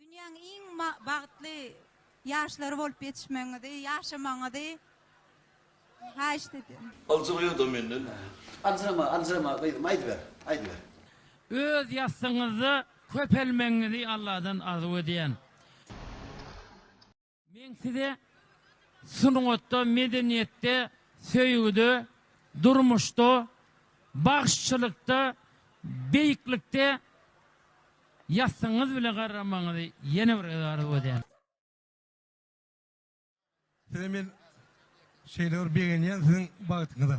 Dünýäň iň bagtly ýaşlary bolup ýetişmegiňizi, ýaşamagyňyzy haýyşt edýän. Aljyraýada menden näme. Aljyrama aljyrama gyzym aýdyber aýdyber. Öz ýassygyňyzda köpelmegiňizi Alladan arzuw edýän. Men size sungatda, medeniýetde, söýgüde, durmuşda, bagşçylykda, beýiklikde ýassyňyz bile garramagyňyzy ýene bir gezek arzuw edýän. Size men şeýle bir begenýän siziň bagtyňyza.